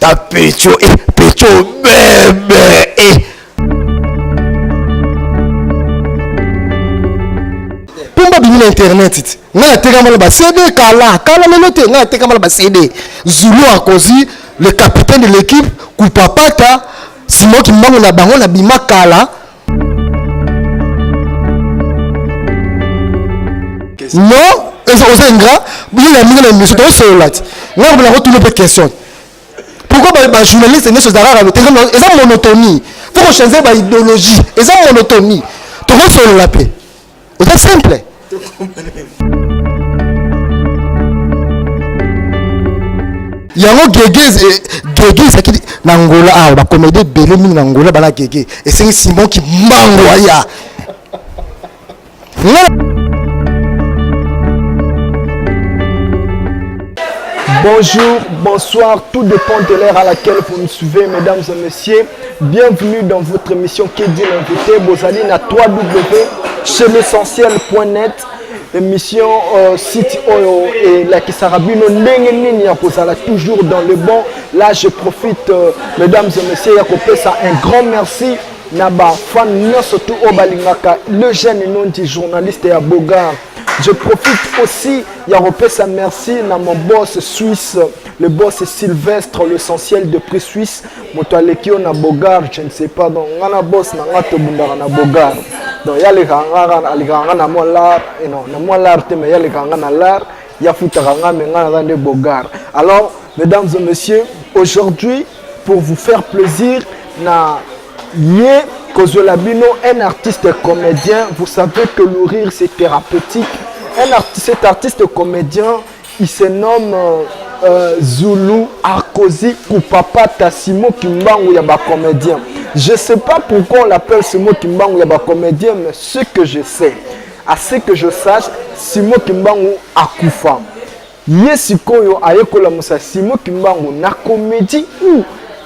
ta pecho eh, pecho bebe eh. pomba bimi na internet ti ngai natekama na bacd kala kala lelo te ngai natekama na bacd zulu akozi le capitaine de l'équipe kupapata simoki mbango na bango na bima kala non eza oza ingra bolela mingi na émission tosolola ti ngai kobela kotuna mpe question pourquoi bajournaliste nyonso eza kaka lote eza monotonie fo kochange baidéologie eza monotonie tokosolola mpe eza simple yango gege gege ezalaki na ngola awa bakomedi ebele mingi na ngola bana gege esengi simon kimbangu aya Bonjour, bonsoir, tout dépend de l'heure à laquelle vous nous suivez, mesdames et messieurs. Bienvenue dans votre émission qui dit l'invité. Bozali na 3W chez l'essentiel.net émission euh, site oyo et la Kisarabino ndenge nini ya kozala toujours dans le bon. Là je profite euh, mesdames et messieurs ya kopesa un grand merci na ba fan nyonso tout oyo balingaka le jeune nom du journaliste ya Bogart. Je profite aussi ya kopesa merci na mon boss suisse le boss Sylvestre l'essentiel de prix suisse moto aleki yo na bogar je ne sais pas donc nga na bos na nga tobundaka na bogar donc ye alekaka nga alekaka nga na mwa lar eh non na mwa lar te mais ye alekaka nga na lar ye afutaka nga me nga naza nde bogar alors mesdames et messieurs aujourd'hui pour vous faire plaisir na ye kozwela bino un artiste comédien vous savez que le rire c'est thérapeutique un artiste, cet artiste comédien Il se nomme euh, euh, Zulu Arkozi Kupapata Simo Kimbangu ya ba comédien. Je sais pas pourquoi on l'appelle Simo Kimbangu ya ba comédien, mais ce que je sais, à ce que je sache, Simo Kimbangu akufa. Ye sikoyo aye kolamusa Simo Kimbangu na comédie ou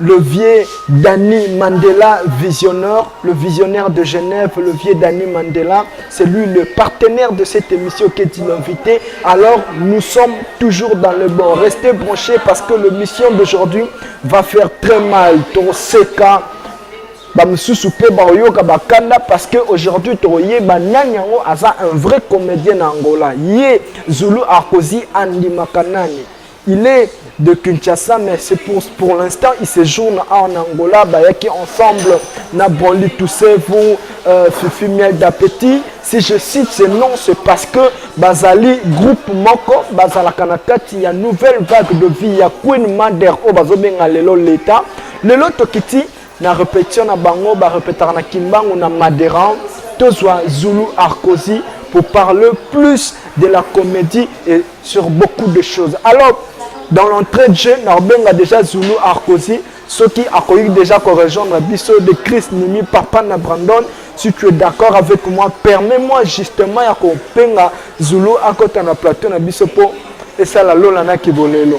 Le vieux Danny Mandela, visionnaire, le visionnaire de Genève, le vieux Danny Mandela, c'est lui le partenaire de cette émission qui est invité. Alors, nous sommes toujours dans le bon. Restez branchés parce que l'émission d'aujourd'hui va faire très mal. Ton seka, bamosusu mpe baoyoka bakanda parce que aujourd'hui tokoyeba nani yango aza un vrai comédien na angola ye zulu akozi andimaka nani Il est de Kinshasa mais c'est pour, pour l'instant il séjourne en Angola bayaki ensemble na Brandy Toussevu euh, Fifi Miel d'Appétit si je cite ce nom c'est parce que bazali groupe moko bazalaka na kati ya nouvelle vague de vie ya Queen Mother oyo bazobenga lelo l'État lelo tokiti Na repetition na bango ba repetaka na Kimbangu na Maderan tozwa Zulu Arkosi pour parler plus de la comédie et sur beaucoup de choses. Alors, dans l'entrée de jeu, Narbenga déjà Zulu Arkosi, ceux qui accueillent déjà qu'on rejoindre Bisso de Chris Nimi, Papa na Brandon. Si tu es d'accord avec moi, permets-moi justement ya qu'on penga Zulu à côté na plateau na Bisso pour et ça la lola na kibolelo.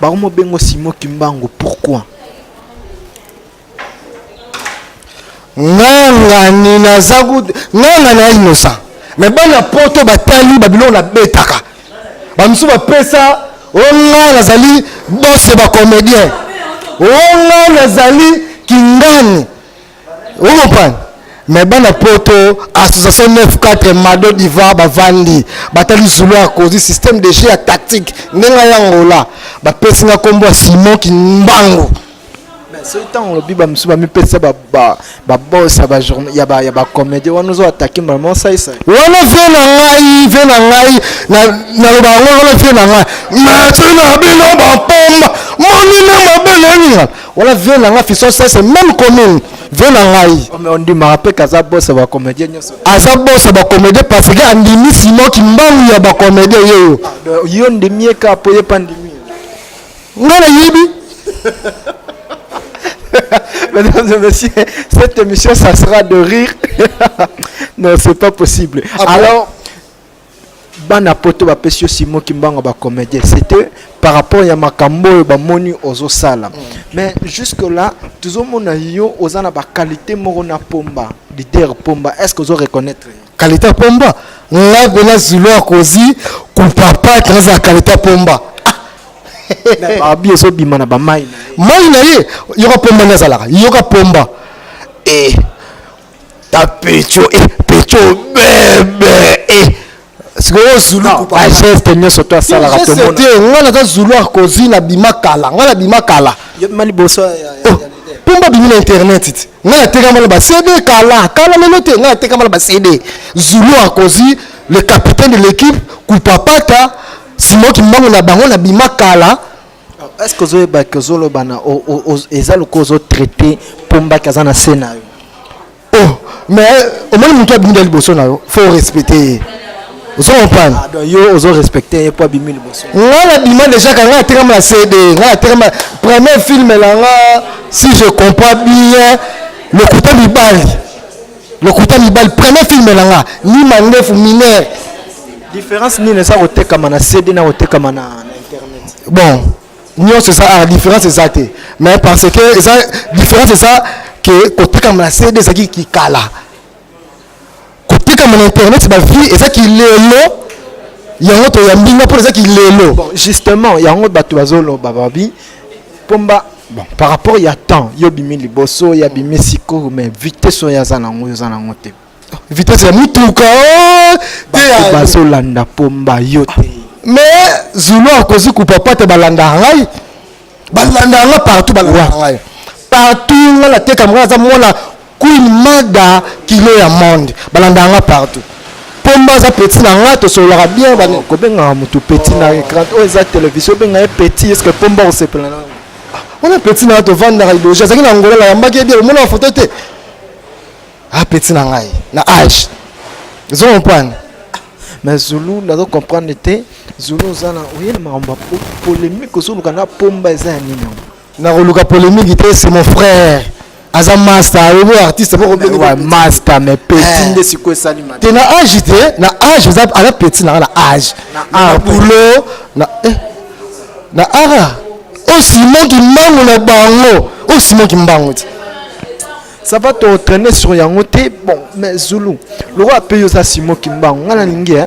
Bakomo bengo Simon Kimbangu pourquoi? Nganga ni naza kutu nganga na innocent mais bana poto batali babiloko nabetaka bamosusu bapesa o oh, ngai nazali bose bacomédien o oh, ngai nazali kingani Vous comprenez mais bana poto association 94 mado diva bavandi batali zulu ya kozi système de jeu ya tactique ndenge ya ngola bapesi nga nkombo ya simon kimbangu soki ntango olobi bamosusu bamipesa babos ya bacomédie wana ozo atake mama osaisa wana vie na ngai vie na ngai naloba yango wana vie na ngai mati na bino bampomba monina mabele eninga Wana vieux na nga Fiston Sese même commune vieux na ngai. Oh, mais on dit marape kaza boss ba comédien nyoso. Aza boss ba comédien parce que andimi Simon Kimbangu ya ba comédien yeyo. Ah, yo ndimi ka po ye pa ndimi. Nga na yibi. Mesdames et messieurs, cette émission ça sera de rire. non, c'est pas possible. Ah, Alors bana poto bapesi yo simo kimbangu ba comédien c'était par rapport ya makambo oyo bamoni ozosala mm. mais jusque là tozomona yo oza na baqualité moko na pomba leader pomba est ce que ozo reconnaître qualité ya pomba nga bela zulu akozi kupapa eza qualité ya pomba babi ezobima na bamai mai na ye yoka pomba nde azalaka yoka pomba e eh. ta pecho eh, pecho bebe eh. sikoyo zulu bageste nyonso to asalaka tomona te ngai naza zulu akozi na bima kala ngai na bima kala yebima liboso pomba bimi na internet ti ngai natekama na bacd kala kala lelo te ngai natekama na bacd zulu akozi le capitaine de l'équipe kupapata simoki mbango na bango na bima kala Est-ce que ozoyeba que ozoloba na eza lokola ozo traiter pombaki aza na se na yo oh mais eh, omoni motu abunda liboso na yo faut respecte ye ozo comprendre ah, yo ozo respecte ye mpo abimi liboso ngai nabima déjà ka ngai atekama na cd ngai atekama premier film na nga si je comprends bien lokuta mibali lokuta mibali premier film na nga ni mandefu mineur différence nini eza kotekama na cd na kotekama na internet bon nyonso eza art différence eza te mais parce que eza différence eza ke kotekama na cd ezalaki kikala kotekama na internet bavie eza kilelo yango toyambi nga mpona eza kilelo bon justement yango bato bazoloba babi mpomba bon par rapport ya temps yo bimi liboso ya bimi sikoyo mais vitesse oyo aza nango oyo oza nango te vitesse ya motuka oh, bato bazolanda pomba yo te mais zulu akozi kupapa te balandaka ngai balandaka ngai partout balandaka ngai partout ngai natekama ngai aza mwana Queen Mada kilo ya monde balandaka nga partout pomba aza petit na nga tosololaka bien bani oh, kobengaka motu petit na écran oyo oh, eza télévision obenga ye petit estce pomba osepela na yango ah, wana petit na nga tovandaka liboso azalaki na ngola nayambaki ye bien omona foto te ah petit na ngai na age ozo comprendre mais zulu nazo comprendre te zulu oza na oye na makambo polemique ozoluka na pomba eza ya nini yango nakoluka polemique te c'est mon frère aza masta oyebi artiste moko masta mais petit eh. nde sikoyo esalima te na age te na age eza aza petit nanga na age na boulot na eh. na ara osimon kimbangu na bango osimon kimbangu ti ça va te retraîner sur yango te bon mais zulu lokola mpe yo oza simon kimbangu ngai nalingi eh.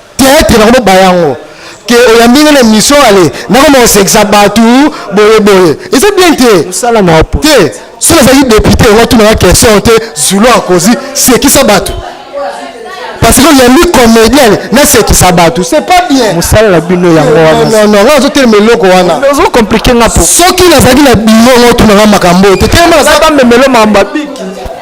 Theatre na komo bayango ke oyambi nga na mission ale nakoma kosekisa bato boye boye eza bien te mosala na opo te soki azalaki depute yango atunaka question te zulu akozi sekisa bato parce que oyambi comédienne nasekisa bato c'est pas bien mosala na bino yango wana non nga azotelema eloko wana ozo compliquer nga po soki nazalaki na bino ngo otunanga makambo oyo te telema naza bamemelo mambo abiki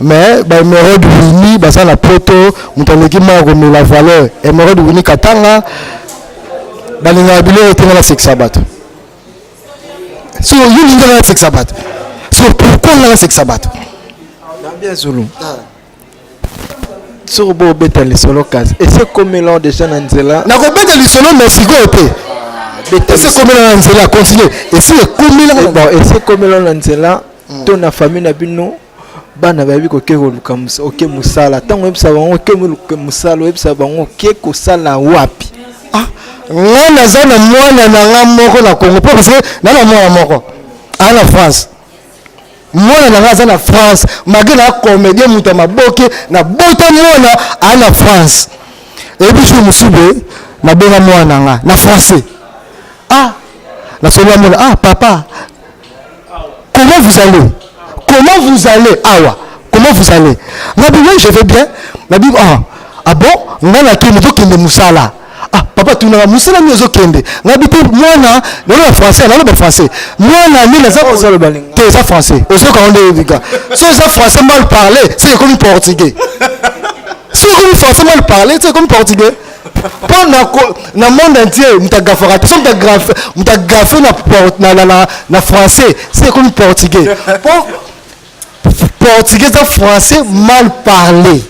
mais ba emerode wini baza na poto moto aleki moko komela valeur emerode wini katanga balingaka biloko te nga nasekisa bato so yo lingi nga nasekisa bato so pourkoi nga nasekisa bato bien zulu soki bobeta lisolo kasi ese komela deja na nzela nakobeta lisolo na sikoyo te ah, ese komela na nzela continue ese ekomela eh, ese komela na nzela hmm. to na famille na bino bana bayebi koke koluka oke mosala ntango oyebisa bango oke mosala oyebisa bango oke kosala wapi ah. ngai naza na mwana na ngai moko na congo mpo parce que na na mwana moko aa na france mwana na ngai aza na france malgre na comédien moto ya maboke na bota mwana aa na france eyebi jour mosusu boye nabenga mwana na ngai na français ah nasobi amona ah papa Comment vous allez Comment vous allez Awa. Comment vous allez Nabi, oui, je vais bien. Nabi, ah, ah bon Nga na kende, tokende musala. Ah, papa, tu n'as musala ni ozo kende. Nabi, te, mwana, nalo na français, nalo na français. Mwana, ni naza ozo le baling. Te, za français. Ozo ka onde bika. So za français mal parler, c'est comme portugais. C'est comme français mal parler, c'est comme portugais. mpo na, na monde entier moto agafaka te so moto agafe na, na, na, na, na français se ekomi portugais mpo portugais eza français mal parlé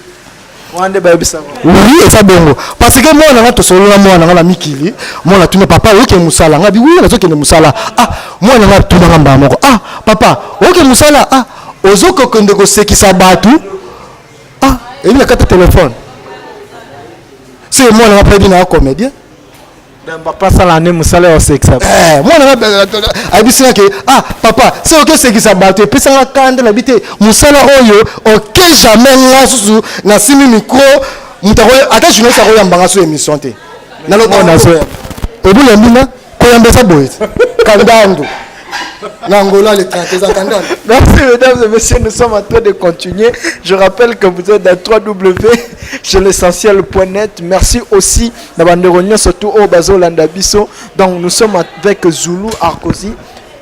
oui eza bongo parce que mwana nga tosolola mwana nga na mikili mwana atuni papa oyoke mosala nga bi wi nazokende mosala ah mwana nga atuna nga mbala moko ah papa oyoke mosala ah ozokokende kosekisa bato ah ebi na kati telefone soki mwana nga pedi na comédien bapasala nde mosala ya osekisa eh, mwana nga eh, eh, ayebisi nga ke ah papa soki oki osekisa bato epesanga kanda na bi te mosala oyo oke jamais nga susu nasimi micro moto ata journaliste akoyambanga so émission te naloba obulembi nga koyamba eza boye te kandando na Angola les 30 eza kandando merci mesdames et messieurs nous sommes en train de continuer je rappelle que vous êtes dans 3w chez l'essentiel.net merci aussi na bandeko nyonso tout oyo bazolanda biso donc nous sommes avec zulu arkosi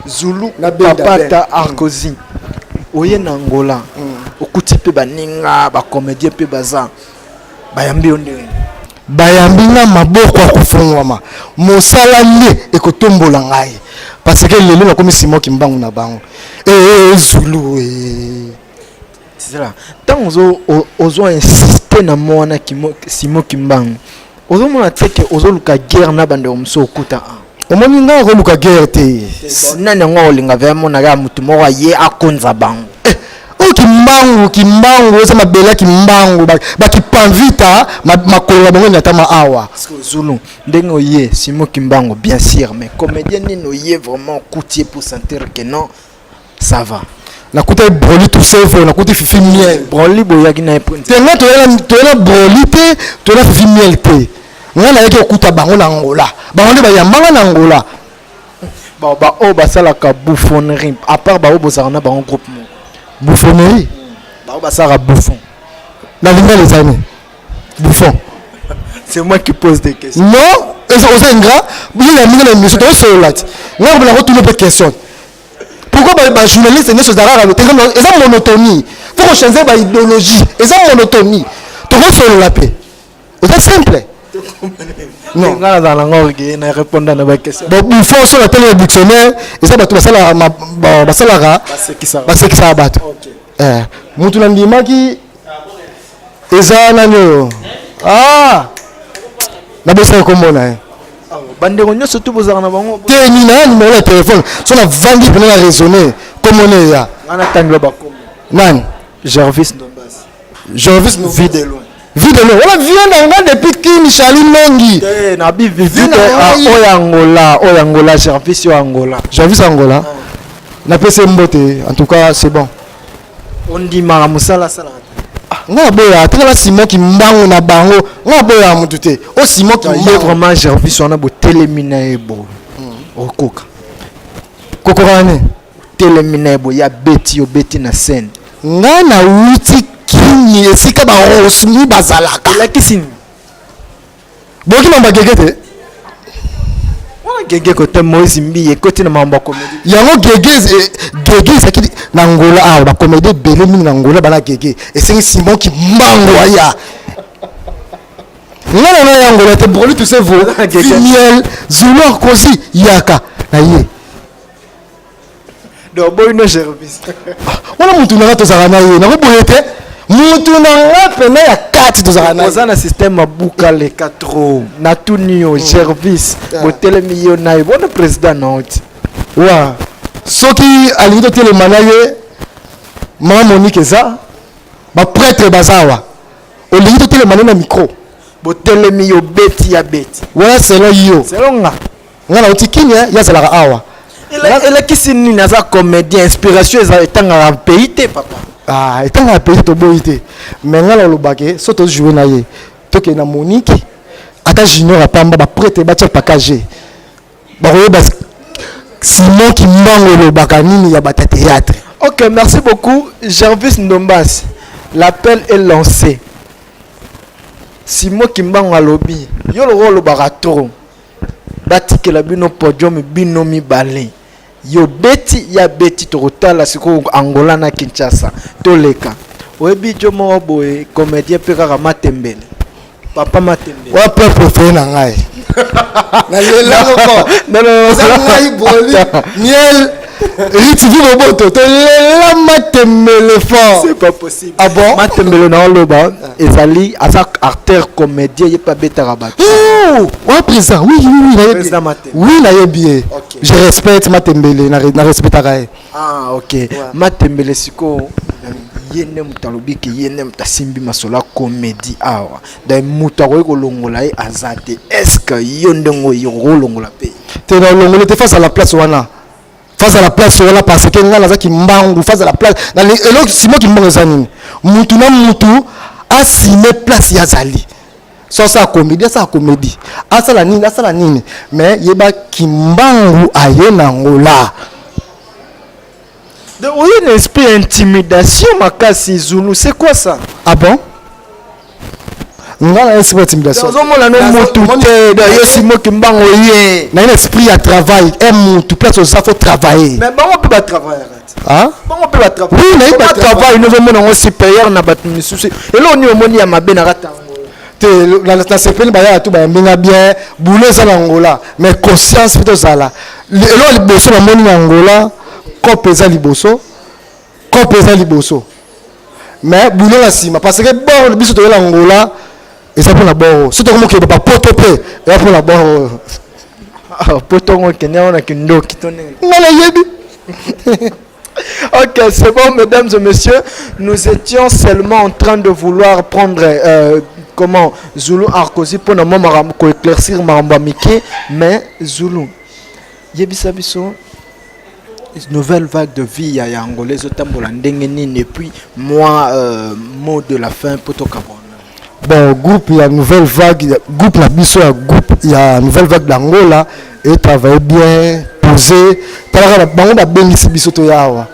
zulu Na Benda papata Ben. arkosi oye na angola okuti mpe baninga bacomédien mpe baza bayambi yo ndenge nini? Bayambi nga maboko ya kofungwama, mosala nde ekotombola ngai parce que lelo nakomi Simon Kimbangu na bango. Ee Zulu ee. Zala, ntango ozo o- ozo insiste na mo wana Kimo- Simon Kimbangu, ozomona te ke ozoluka guerre na bandeko mosusu okuta a omoni ngai akoluka guerre te nani yango akolinga vea monaka ya motu moko aye akonza bango eh, oyo kimbangu kimbangu eza mabele ya kimbangu bakipanvita makolo na bango enatama awa zulu ndenge oye simo kimbangu bien sûr mais comédien nini oye vraiment okuti ye pour sentir que non ça va nakuta broli tuseve nakuti fifi miel broli boyaki na te nga toyela broli te toyela fifi miel te nga nayaki okuta bango na angola bango nde bayambanga na angola baoyo basalaka bouffonnerie à part baoyo bozalaka na bango groupe moko bouffonnerie baoyo basalaka bouffon na lingala ezali bouffon c'est moi qui pose des questions non oza ingrat yo ya mingi na émission tokosolola ti ngai kobela kotuna mpe question pourquoi bajournaliste nyonso ezalaka eza monotonie fo kochange baidéologie eza monotonie tokosolola mpe oza simple non nga nazala nango orgueille na répondre na baquestion bon bouffon soki atali na dictionnaire eza bato basalaka basekisaka bato okay. eh, mutu nandimaki eza nani oyo ah! nabosaka kombo na ye bandeko nyonso tu bozalaka na bango te nina ya nimero ya telefone so navandi pene na raisonne komona eya nani gervis ndombas gervis vide loin Vie de l'eau. Wala vie na nga depuis kin chali mengi. Eh na bi vie de ah, oya Angola, oya Angola, Jarvis yo Angola. Jarvis Angola. Ah. Na pese mbote, en tout cas c'est bon. On dit mara musala sala. Ah, nga boya atikala simon kimbangu na bango nga boya mutu te o oh, simon kimbangu ye vraiment jarvis wana botelemi na ye bo hmm. okoka kokoka nani Telemi naye boye abeti yo obeti na scène. Nga na wuti kin esika ba rosny bazalaka. Elakisi nini? Boyoki mambo ya gege te? gege kote moise mbiye ekoti na mambo ya komedi yango gege eh, gege ezalaki na ngola awa ah, bakomedi ebele mingi na ngola bana gege esengi simon kimbangu aya nga na ngai ya ngola te broli tusevo vimiel zulu akosi yaka na ye donc boyi no gervis wana mutu nanga tozalaka na ye nako boye te mutu nanga pena ya kati tozalaka na ye oza na systeme abuka leka tro na tuni yo gervis botelemi yo na ye bona président noti wa soki alingi totelema na ye mama monike eza bapretre baza awa olingi totelema na ye na micro botelemi yo beti ya beti wana selon yo selon nga nga nauti kin ye azalaka awa elakisi nini aza comédien inspiration eza etangaka pays te papa ah, etangaka pays toboyi te mais nga nalobake so tojoue na ye tokende na monique ata junior apamba baprete batya pakage bakoyeba simon kimbango elobaka nini ya bata théâtre ok merci beaucoup gervis ndombas l'appel est lancé simon kimbango alobi yo lokola olobaka trop batikela bino podium bino mibale yo beti ya beti tokotala sikoyo angola na kinshasa toleka oyebi jo moko boye comédien mpe kaka matembele papa matembele wa mpe prefere na ngai nalelakoko naza ngai boli miel Ritivi Boboto, te lela matembele fort. C'est pas possible. Ah bon? Matembele na oloba ezali aza artère comédien ye pas beta rabat. Oh, wa présent. Oui, oui, oui, na yebi. Oui, na yebi. Okay. Je respecte matembele na na respectaka ye. Ah, OK. Ouais. Matembele siko ye nde moto alobi ke ye nde moto asimbi masolo ya komedi awa donc moto akoki kolongola ye aza te est ce que yo ndenge oyo okolongola mpe te na olongoli te face à la place wana face à la place wana parce que ngai nazaki mbangu face à la place eloko simoki mbangu eza nini mutu na mutu asime place ye azali so asala komedi asala komedi asala nini asala nini mais yeba kimbangu aye na ngola oye na esprit ya intimidation makasi zulu c'est quoi ça ah bon nga na esprit ya intimidation ozomona no mutu te da yesi moki mbango ye na ina esprit ya travail e mutu place oza fo travailler mais bango mpe ba travailler bango mpe ba travailler oui nayebi ba travail nozomona yango supérieur na bato misusu eloko nini omoni ya mabe na kata te nasepeli bayaka tu bayambi nga bien boule eza na angola mais conscience mpe tozala eloko liboso namoni na angola cope eza liboso Cope eza liboso. Mais boulot la sima parce que bord biso toyela Angola eza pona bord. Soto comme que ba poto pe eza pona bord. Ah, poto ngo kenya ona kindoki to ndenge. Ngala yebi. Ok, c'est bon, mesdames et messieurs. Nous étions seulement en train de vouloir prendre euh, comment Zulu Arcosi pour nous éclaircir Maramba Mickey, mais Zulu. Yebisa biso nouvelle vague de vie ya Angola ezotambola ndenge nini et puis moi euh, mot de la fin mpo tokabwana bon groupe ya nouvelle vague groupe na biso ya groupe ya nouvelle vague d'angola etravaille bien posé talaka bango babengisi biso toya awa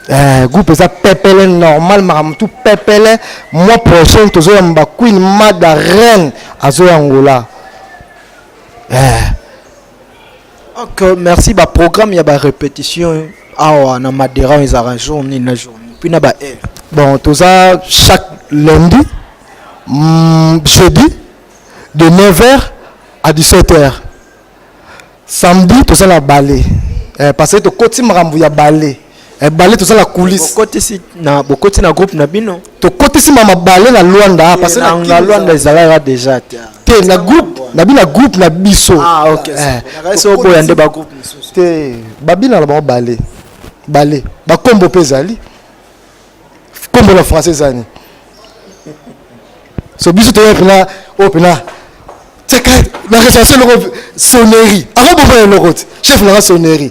eh, groupe eza pepele normal makambo tu pepele mois prochain tozoyamba queen mada reine azoya angola eh. Ok, merci. Ba programme ya ba répétition awa na Madera on ezalaka jour nini na jour nini? Puis na ba heure. Bon, toza chaque lundi, mm, jeudi de 9h à 17h. Samedi toza na ballet. Eh, parce que tokoti makambo ya ballet. ebale toza na coulisse bokotisi na bokoti na groupe na bino tokotisi ma mabale na Luanda ah, parce na nga Luanda ezalaka déjà te te na groupe na bina groupe na biso ah OK eh, so boya nde ba groupe mosusu te babina na bango bale bale ba kombo pe zali kombo na français zani so biso toya pena o oh, pena teka na recherche loko sonnerie avant bofa eloko te chef na sonnerie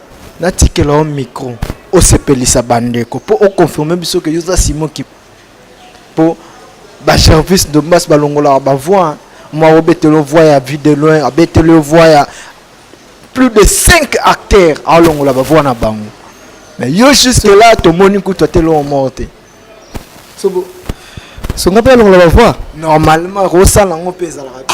Natikela yo micro osepelisa bandeko mpo o confirme biso ke yo oza Simon Kip mpo ba Gervis Dombas balongolaka ba voix mwa obetela yo voix ya vue de loin abetela yo voix ya plus de 5 acteurs aolongola ba voix na bango mais yo jusque là tomoni kutu atela yo moko te sobo songa mpe alongola ba voix normalement kosala yango mpe ezalaka te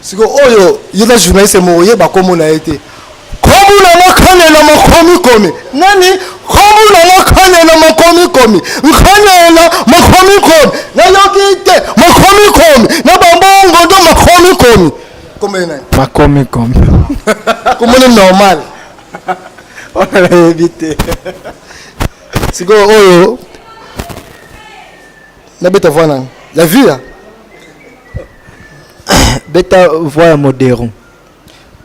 siko oyo yeka journaliste moko yeba kombo na ye te kombo na nga kane na makomikomi nani kombo na nga kane na makomikomi nkanela makomikomi nayoki te makomikomi na bambongo ndo makomikomi kombo ye nani makomikomi kombo ni normal wana nayebi te sikoyo oyo Na beta voix nani? Ya via? beta voix ya modero.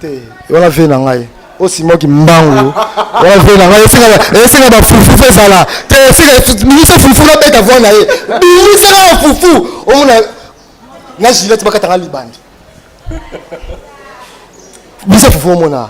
Te, wana vie na ngai. osimaki mbangu wana vie na ngai esenga bafufu ezala te esenga bimisa fufu na beta voi na ye bimisa na bafufu omona na gilete bakatanga libandi bimisa fufu omona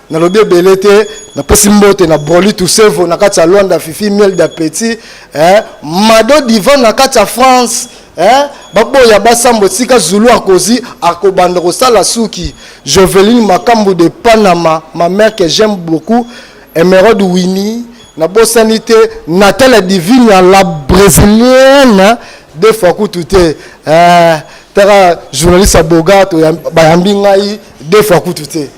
nalobi ebele te napesi mbote na broli tusevo na kati ya lwanda fifi miel d'appétit eh, mado divan na kati ya france eh, baboya basambo esika zulu akozi akobanda kosala suki joveline makambo de panama ma mère que j'aime beaucoup emerode wini nabosani te natala divinia la brésilienne de fois kutu te eh, taka journaliste ya boga bayambi ngai de fois kutu te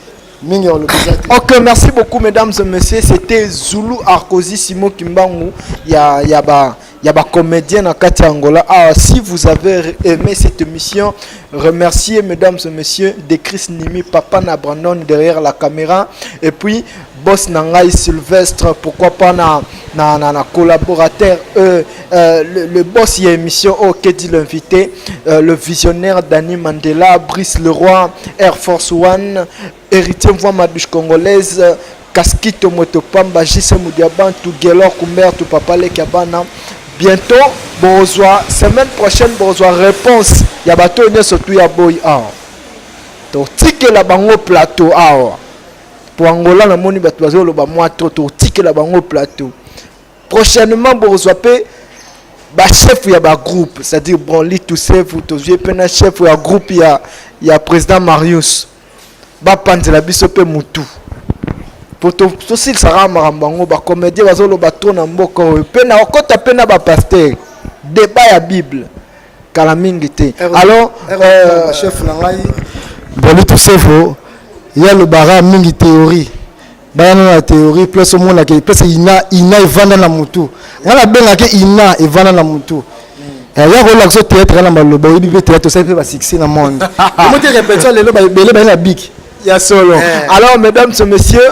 mingi ya balobi eza te ok merci beaucoup mesdames et messieurs c'était zulu arkosi simo kimbangu ya ya ba ya ba comédien na kati ya angola awa ah, si vous avez aimé cette émission remercier mesdames et messieurs de chris nimi papa na brandon derrière la caméra et puis boss na ngai sylvestre pourquoi pas na na, na, na collaborateur euh, Euh, le, le, boss y a émission oh que dit l'invité euh, le visionnaire Danny Mandela Brice Leroy Air Force One héritier voix madouche congolaise Casquito Motopamba JC Mudiabantu Gelor Kumbertu Papa Lekabana bientôt bozwa semaine prochaine bozwa réponse ya bato nyonso tu ya boyi awa totikela bango plateau awa mpo angola namoni bato bazoloba mwa to totikela bango plateau prochainement bokozwa pe ba chef ya ba groupe c'est à dire bon li tout chef tozwi pe na chef ya groupe ya ya président marius bapanzela biso pe mutu po tosilisaka makambo yango bacomédien bazoloba trop na mboka oyo mpe na okota mpe na bapaster debat ya bible kala mingi te alors euh, chef na ngai bolito sefo ya lobara mingi théorie baya nano na théorie place omonaka place ina ina evanda na motu ngai nabengaki ina evanda na motu eh, ya kolakisa o théâtre ya na maloba oyebi mpe théâtre osali mpe basuccès na monde omoti répétition lelo ebele baye na biki ya solo eh. alors mesdames et messieurs